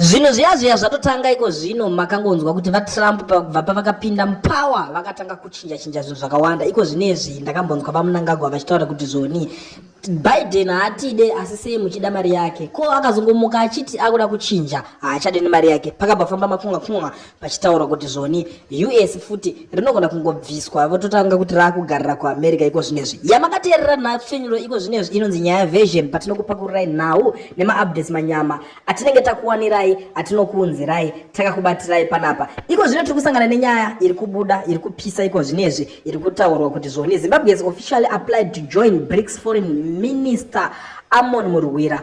Zvinhu zviya zviya zvatotanga iko zvino makangonzwa kuti vaTrump pavakubva pavakapinda mupower vakatanga kuchinja chinja zvinhu zvakawanda iko zvinezvi ndakambonzwa vaMnangagwa vachitaura kuti zvoni Biden haatide asi sei muchida mari yake ko akazongomuka achiti akuda kuchinja haachade nemari yake pakabva famba makunga kunga pachitaurwa kuti zvoni us futi rinogona kungobviswa vototanga kuti raakugarira kuamerica iko zvino izvi yamakateerera nhapfinyuro iko zvino izvi inonzi nyaya version patinokupakururai nhau nemaupdates manyama atinenge takuwanirai atinokuunzirai takakubatirai panapa iko zvino tiri kusangana nenyaya iri kubuda iri kupisa iko zvino izvi iri kutaurwa kuti zvoni zimbabwe has officially applied to join brics foreign minister amon murwira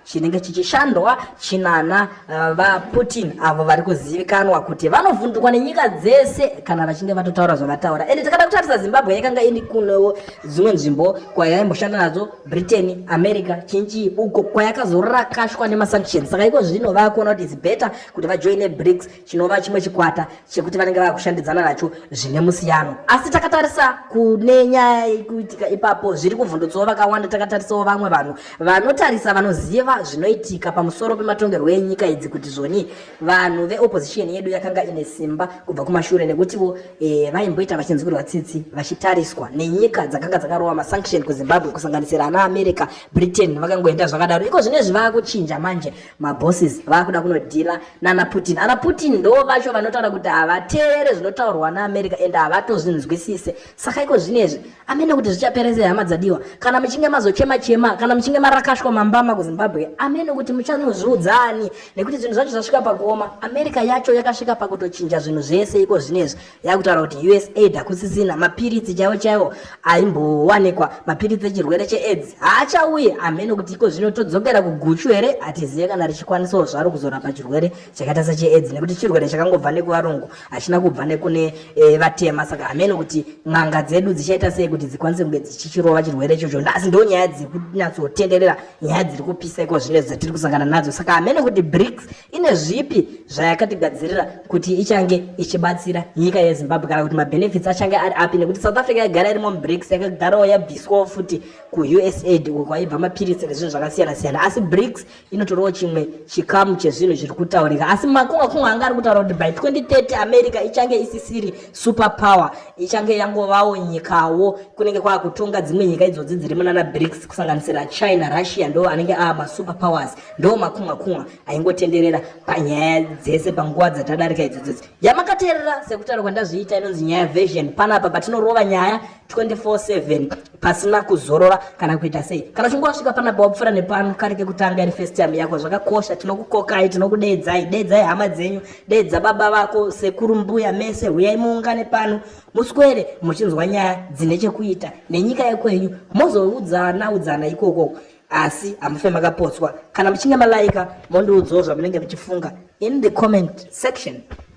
chinenge chichishandwa chinana uh, vaputin avo vari kuzivikanwa kuti vanovhundukwa nenyika dzese kana vachinge vatotaura zvavataura ende takada kutarisa zimbabwe yakanga ini kunewo dzimwe nzvimbo kwayaimboshanda nadzo britain america chinchii uko kwayakazorakashwa nemasanctions saka iko zvino vakuona kuti its better kuti vajoine brics chinova chimwe chikwata chekuti vanenge vava kushandidzana nacho zvine musiyano asi takatarisa kune nyaya yekuitika ipapo zviri kuvhundutsawo vakawanda takatarisawo vamwe vanhu vanotarisa vanoziva zvinoitika pamusoro pematongerwo enyika idzi kuti zvoni vanhu veopposition yedu yakanga ine simba kubva kumashure nekutiwo e, vaimboita vachinzwirwa tsitsi vachitariswa nenyika dzakanga dzakarowa masanction kuzimbabwe kusanganisira ana america britain vakangoenda zvakadaro iko zvine zvivakuchinja manje mabosses vakuda kunodhila nana putin ana putin ndo vacho vanotaura kuti havateerere zvinotaurwa naamerica and havatozvinzwisise saka iko zvinezvi amene kuti zvichapera sei hama dzadiwa kana muchinge mazochema chema kana muchinge marakashwa mambama kuzimbabwe amene kuti muchanozviudza ani nekuti zvinhu zvacho zvasvika pakuoma america yacho yakasvika pakutochinja zvinhu zvese iko zvinezvi yakutaura kuti usaid hakusisina mapiritsi chaiwo chaiwo aimbowanikwa mapiritsi echirwere cheaids haachauye hameno kuti iko zvino todzokera kuguchu here hatizive kana richikwanisawo zvaro kuzorapa chirwere chakaita secheaids nekuti chirwere chakangobva nekuvarungu hachina kubva nekune e, vatema saka hameno kuti n'anga dzedu dzichaita sei kuti dzikwanise kunge dzichichirova chirwere ichocho nhasi ndo nyaya dziri kunyatsotenderera nyaya dziri kupisa iko zvino dzatiri kusangana nadzo saka hameno kuti brics ine zvipi zvayakatigadzirira kuti ichange ichibatsira nyika yezimbabwe kana kuti mabenefits achange ari api nekuti south africa yagara irimo mubrics yakagarawo yabviswawo futi kuusaid uko kwaibva mapiritsi nezvinhu zvakasiyana siyana asi brics inotorawo chimwe chikamu chezvinhu zviri kutaurika asi makunga kunga anga ari kutaura kuti by 2030 america ichange isisiri super power ichange yangovawo nyikawo kunenge kwaakutonga dzimwe nyika idzodzi dziri munana brics kusanganisira china russia ndo anenge aa masuper powers ndo makunwa kunwa aingotenderera panyaya dzese panguva dzatadarika idzodzodzi yamakateerera sekutaura kwandazviita inonzi nyaya version panapa patinorova nyaya 24/7 pasina kuzorora kana kuita sei kana uchinge wasvika panapa wapfura nepano kari kekutanga iri first time yako zvakakosha tinokukokai tinokudeedzai deedzai hama dzenyu deedza baba vako sekuru mbuya mese huyai muungane pano muswere muchinzwa nyaya dzine chekuita nenyika yekwenyu mozoudzana udzana ikokoko asi hamufe makapotswa kana muchinge malaika mondiudzawo zvamunenge muchifunga in the comment section